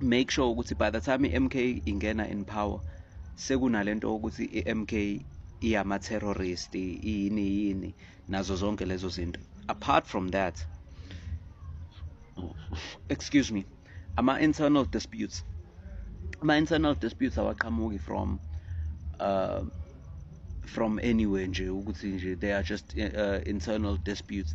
make sure ukuthi by the time i-mk ingena in power sekunalento ukuthi i-mk iyama-terrorist iyini yini nazo zonke lezo zinto apart from that excuse me ama-internal disputes ama-internal disputes awaqhamuki from uh, from anywhere nje ukuthi nje they are just uh, internal disputes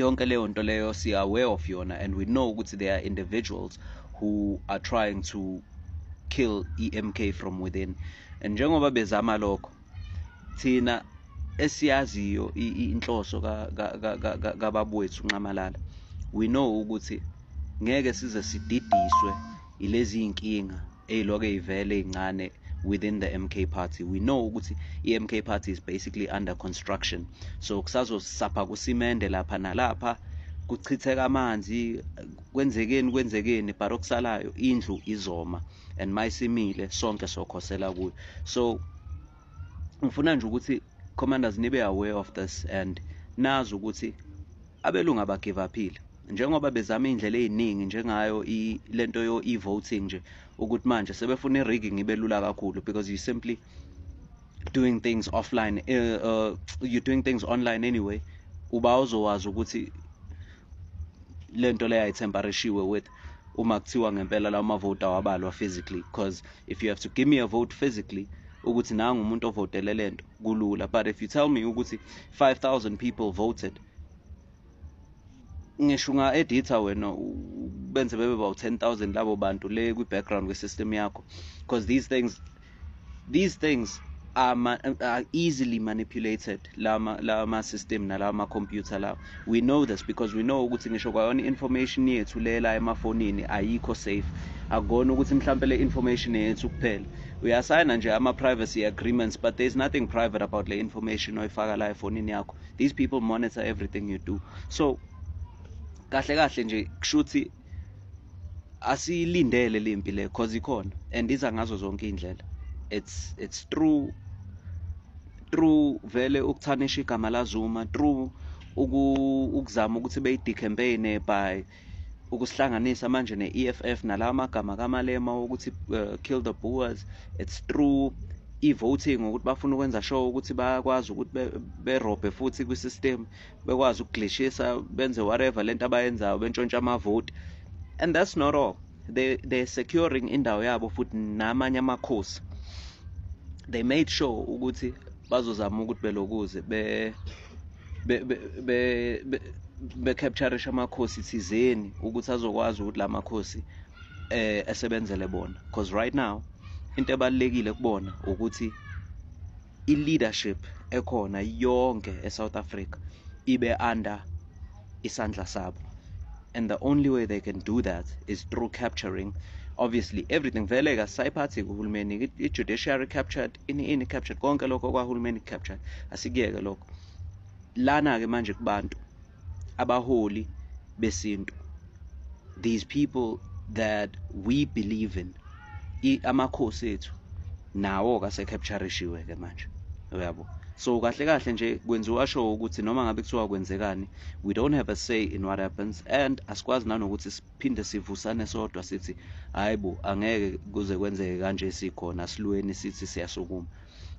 yonke leyo nto leyo si aware of yona and we know ukuthi there are individuals who are trying to kill EMK from within and njengoba bezama lokho thina esiyaziyo inhloso kababwethu nxamalala we know ukuthi ngeke size sididiswe ilezi inkinga eyiloke ivele incane within the MK party we know ukuthi iMK party is basically under construction so kusazosapha kusimende lapha nalapha kuchitheka amanzi kwenzekeni kwenzekeni but okusalayo indlu izoma and mayisimile sonke sokhosela kuyo so ngifuna nje ukuthi commanders nibe aware of this and nazi ukuthi abelungu abagive aphile njengoba bezama iy'ndlela ey'ningi njengayo lento yo e-voting nje ukuthi manje sebefuna i-rigging ibe lula kakhulu because you simply doing things offline uh, uh, you're doing things online anyway uba uzowazi ukuthi lento leyo ayithembarishiwe with uma kuthiwa ngempela lawo mavoti awabalwa physically because if you have to give me a vote physically ukuthi nangu umuntu ovotele lento kulula but if you tell me ukuthi 5000 people voted ngisho unga-editha wena benze bebe bawu-10 000 labo bantu le kwi-background kwi-system yakho because these things these things are, ma are easily manipulated lama lama system nalama computer lawa we know this because we know ukuthi ngisho kwayona information yethu lela emafonini ayikho safe akona ukuthi mhlambe le information yethu kuphela uyasayina nje ama privacy agreements but there's nothing private about le information oyifaka la efonini yakho these people monitor everything you do so kahle kahle nje kushuthi asiyilindele le mpi le cause ikhona and iza ngazo zonke iy'ndlela it's, it's true true vele ukuthanisha igama lazuma true ukuzama ukuthi beyi-decampaign by ukusihlanganisa manje ne-EFF nalawa magama kamalema wokuthi uh, kill the boers it's true i-voting ukuthi bafuna ukwenza sure ukuthi bayakwazi ukuthi berobhe futhi kwi-system bekwazi ukuglishisa benze whatever lento abayenzayo bentshontsha amavoti and that's not all they they securing indawo yabo futhi namanye amakhosi they made sure ukuthi bazozama ukuthi belokuze be be be be capture amakhosi thizeni ukuthi azokwazi ukuthi la makhosi eh esebenzele bona because right now into ebalekile kubona ukuthi i-leadership ekhona yonke e-south africa ibe under isandla sabo and the only way they can do that is through capturing obviously everything vele kasayiphathi kuhulumeni i-judiciary captured ini ini captured konke lokho kwahulumeni captured asikuyeke lokho lana-ke manje kubantu abaholi besintu these people that we believe in amakhosi ethu nawo kasekhapturishiwe ke manje uyabo so kahle kahle nje kwenziwa sho ukuthi noma ngabe kuthiwa kwenzekani we don't have a say in what happens and asikwazi nanokuthi siphinde sivusane sodwa sithi hayi bo angeke kuze kwenzeke kanje sikhona silweni sithi siyasukuma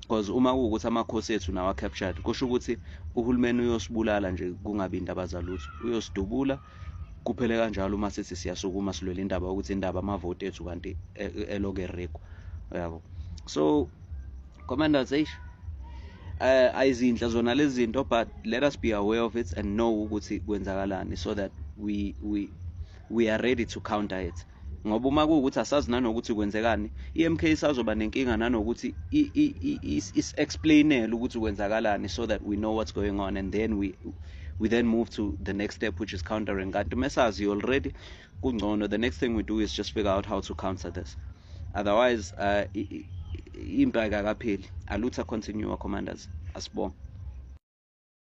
because uma kuwukuthi amakhosi ethu nawa captured kusho ukuthi uhulumeni uyosibulala nje kungabi indaba zalutho uyosidubula kuphele kanjalo uma sithi siyasukuma silwele indaba ukuthi indaba amavoti ethu kanti e, e, eloke rekwa yabo so commanders eish eh ayizinhle zona lezi zinto but let us be aware of it and know ukuthi kwenzakalani so that we we we are ready to counter it ngoba uma kuwukuthi asazi nanokuthi kwenzekani i-mk isazoba nenkinga nanokuthi is-explainele ukuthi kwenzakalani so that we know what's going on and then we we then move to the next step which is countering kanti mesazi already kungcono the next thing we do is just figure out how to counter this otherwise uh, impi akakapheli alutha continue commanders asibonge